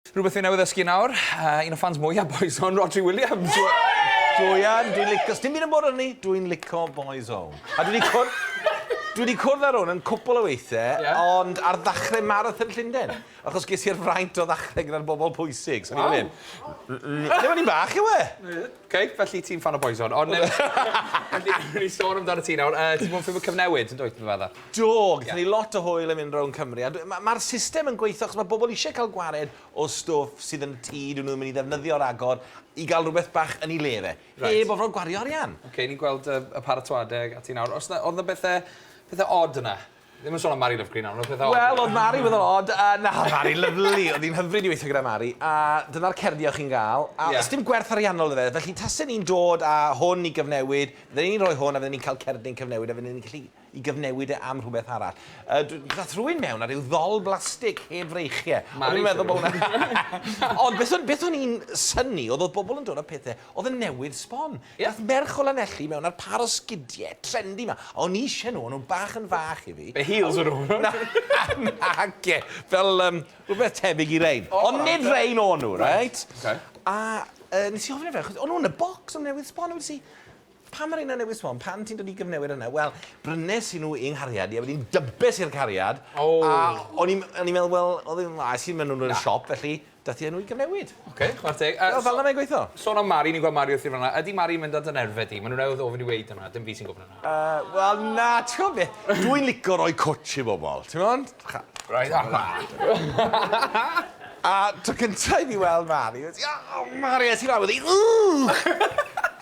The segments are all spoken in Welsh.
Rhywbeth fi newydd ddysgu nawr, uh, un o ffans mwyaf Boys On, Rhodri Williams. Dwi yn, dwi'n licio, dim byd yn bod arni, dwi'n licio Boys On. A dwi wedi cwrdd, dwi wedi cwrdd ar hwn yn cwpl o weithiau, yeah. ond ar ddechrau Marathon Llundain, achos ges i'r fraint o ddechrau gyda'r bobl pwysig, so ni'n mynd. Lle ni'n bach yw e? Oce, felly ti'n ffan o Boyzone. Ond newn ni... newn ni sôn amdanat ti nawr. Yy, ti 'di bod yn ffilmio Cyfnewid, yn dwyt, dwi'n meddwl? Do, gaethon ni lot o hwyl yn mynd rownd Cymru, a ma' ma'r system yn gweithio achos ma' bobl eisiau cael gwared o stwff sydd yn y tŷ, dyn nhw'n mynd i ddefnyddio ragor, i gael rhywbeth bach yn ei le fe. Reit. Heb orfod gwario arian. Oce, ni'n gweld y y paratoade ag ati nawr. O's 'na... oedd 'na bethe, pethe od yna? Ddim yn sôn am Mari Love Green nawr, ond pethau... Wel, oedd Mari yn weddol od, a na, Mari, lyfli, oedd hi'n hyfryd i weithio gyda Mari, a dyna'r cerddi o'ch chi'n gael, a yeah. dim gwerth ariannol iddo fe, felly tasen ni'n dod â hwn i gyfnewid, fydden ni'n rhoi hwn a fydden ni'n cael cerddi'n cyfnewid a fydden ni'n gallu i gyfnewid e am rhywbeth arall. Uh, Dath rhywun mewn ar ryw ddol blastig heb freichiau. Mari, dwi'n meddwl bod hwnna... Ond beth o'n i'n syni, oedd oedd bobl yn dod â pethau, oedd yn newydd sbon. Nath merch o Lanelli mewn ar par o sgidie trendy ma. A o'n i isie nhw, o'n nhw'n bach yn fach i fi. Be heels o'n nhw? Na, nage, fel yym rhywbeth tebyg i rein. Ond nid rein o'n nhw, reit? A yy nes i ofyn i fe, achos o'n nhw yn y bocs am newydd sbon, a wedes i, pam ma' reina newydd sbon, pam ti'n dod i gyfnewid hwnna? Wel, brynes i nhw i'n nghariad i, a wedyn dybes i'r cariad, a o'n i'n o'n i'n meddwl, wel, oedd hi'n dda, es i mewn i nhw yn y siop, felly Daeth i enw i gyfnewid. Oce, chwarae teg. Wel, fel 'na mae'n gweithio. Sôn am Mari, ni'n gweld Mari wrthi fan'na. Ydy Mari'n mynd ar dy nerfe di? Mae nhw newydd ofyn i weud hwnna, dim fi sy'n gwybod hwnna. Yy, wel na, ti'n gwybod beth? Dw i'n licio rhoi cwtsh i bobl, ti'n gwybod? Right, a na! A tro cyntaf i fi weld Mari, oedd hi, O, Mari, a ti'n fawr, oedd hi, Ww!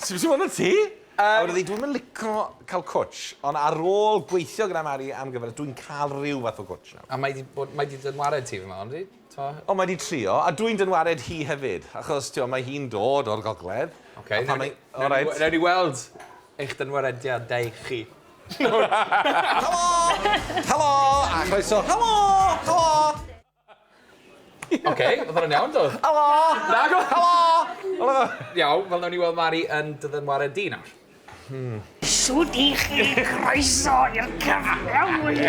Sut ti'n fawr na ti? A wedodd hi, dw i'm yn licio cael cwtsh, ond ar ôl gweithio gyda Mari am gyfres, dw i'n cael rhyw fath o gwtsh nawr. A mae 'di bod, mae 'di dy ngwared ti, fi'n meddwl, yndi? t'o'? O mae 'di trio a dwi'n dyn wared hi hefyd achos t'o' mae hi'n dod o'r gogledd. Oce a pan mae... O reit. Newn ni weld eich dynwarediadau chi. Helo! Helo! A chroeso. Helo! Helo! Oce, odd hwnna'n iawn do? Helo! Nag oedd? Helo! Helo! Iawn, wel newn ni weld Mari yn dy ddynwared di nawr. Hmm. Shwd 'ych chi? Croeso i'r cyfle!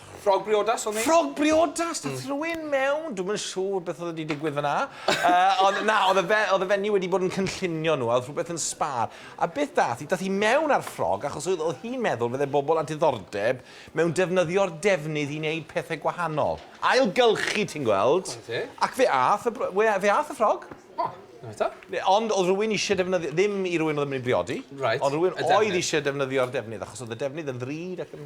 Ffrog briodas o'n i. Ffrog briodas! Dath rhywun mewn, dwi'm yn siŵr beth oedd wedi digwydd fyna. uh, ond na, oedd y, fe, oedd y fenyw wedi bod yn cynllunio nhw, a oedd rhywbeth yn sbar. A beth dath i? Dath i mewn ar ffrog, achos oedd, oedd hi'n meddwl fydde bobl a diddordeb mewn defnyddio'r defnydd i wneud pethau gwahanol. Ailgylchu, ti'n gweld? Ac fe ath y, fe ath y ffrog. Oh. Ond oedd rhywun eisiau defnyddio, ddim i rhywun oedd yn mynd i briodi, right. ond rhywun oedd eisiau defnyddio'r defnydd, achos oedd y defnydd yn ddrud ac yn...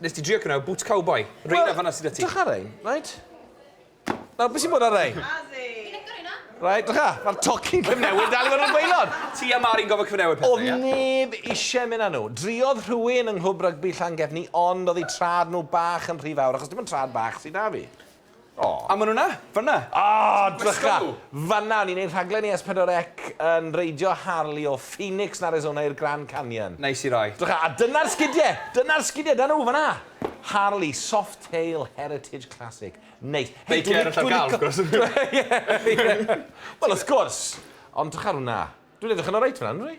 Nes ti drio cnau boots cowboy. Reina well, fanna sydd â ti. Drych ar ein, right? Nawr, beth sy'n bod ar ein? Right, drych ar, mae'r tocyn cyfnewid dal i fod yn gweilod. Ti a Mari'n gofod cyfnewid pethau, ia? Oedd neb eisiau mynd â nhw. Driodd rhywun yng Nghwb Rygbi Llangefni ond oedd eu trad nhw bach yn rhy fawr, achos dim ond trad bach sydd â fi. O! A ma' nw 'na! Fan 'na! O! Drycha! Fan 'na! Ni'n neud rhaglen i S4C yn reidio Harley o Phoenix yn Arizona i'r Grand Canyon. Neis i rai. Drycha! A dyna'r sgidie! Dyna'r sgidie! 'da nhw! Fan 'na! Harley, Softail, Heritage Classic. Neis. Hei, dwi lic- dwi lico... Beiciau ar y llawr, wrth gwrs! Wel, wrth gwrs! Ond drycha ar wnna. Dwi'n edrych yn oreit fan 'na, yndw i?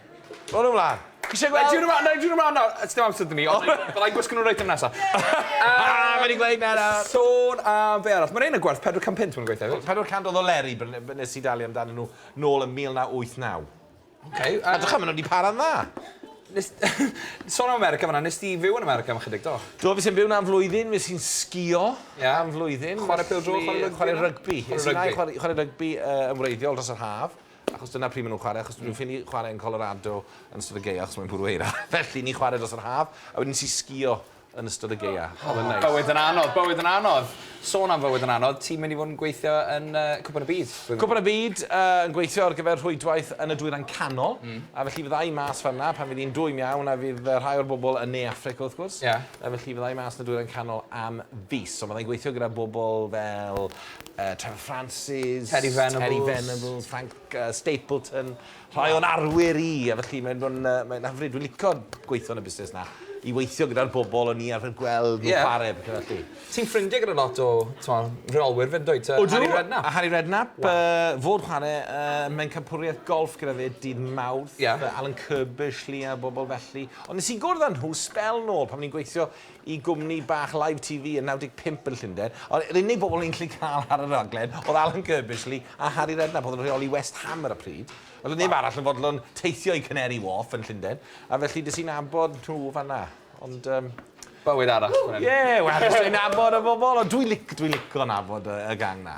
Roll nhw mlaen. Chi eisiau gweld? Nai dyn nhw mlaen, nai dyn nhw mlaen nawr. It's dim amser dyn ni, ond byddai gwisgo nhw reit am nesaf. Ah, mae wedi gweud na na. Sôn am fe arall. Mae rhain yn gwerth 400 punt mae'n gweithio. 400 oedd o Leri, nes i dalu amdano nhw nôl yn 1989. OK. A dych am, nhw wedi para'n dda. Nes... Sôn am America fanna, nes ti fyw yn America am chydig do? Do, fi sy'n byw na am flwyddyn, fi sy'n sgio yeah. am flwyddyn. Chwarae pêl dro, chwarae rygbi. Chwarae rygbi. Chwarae rygbi yn wreiddiol dros yr haf. Achos dyna pryd maen nhw'n chwarae, achos dwi'n ffili chwarae yn Colorado yn ystod y gaeaf achos mae'n bwrw eira. Felly, ni'n chwarae dros yr haf, a wedyn nes i sgïo yn ystod y gaeaf. Oedd e'n neis. Bywyd yn anodd, bywyd yn anodd. Sôn am fywyd yn anodd, ti'n mynd i fod yn gweithio yn Cwpan y Byd? Cwpan y Byd, yn gweithio ar gyfer rhwydwaith yn y Dwyrain Canol, a felly fydda i mas fan'na pan fydd hi'n dwym iawn, a fydd rhai o'r bobl yn Ne Affrica wrth gwrs, felly fydda i mas yn y Dwyrain Canol am fis. So fydda i'n gweithio gyda bobl fel uh, Trevor Francis, Terry Venables, Terry Venables Frank uh, Stapleton, rhai o'n arwyr i, a felly mae'n bod yn uh, mae hyfryd. Dwi'n licio gweithio yn y busnes na, i weithio gyda'r bobl o'n i arfer gweld nhw'n yeah. chwarae, beth felly. Ti'n ffrindiau gyda lot o rheolwyr fyd dweud, uh, Harry Redknapp? A Harry Redknapp, wow. uh, fod chwarae, uh, mae'n campwriaeth golf gyda fe dydd mawrth, yeah. uh, Alan Kirbysh, Lia, bobl felly. Ond nes i gwrdd â nhw spel nôl pan ni'n gweithio i gwmni bach Live TV yn 95 yn Llundain, ond yr unig bobl ni'n gallu cael ar y rhaglen oedd Alan Curbishley a Harry Redknapp oedd yn rheoli West Ham ar y pryd. Oedd 'na neb arall yn fodlon teithio i Canary Wharf yn Llundain, a felly des i'n nabod nhw fan'na. Ond yym. Bywyd arall fan hyn. Ie, wel, jyst yn nabod y bobl, ond dwi'n lic- dwi'n lico nabod y gang 'na.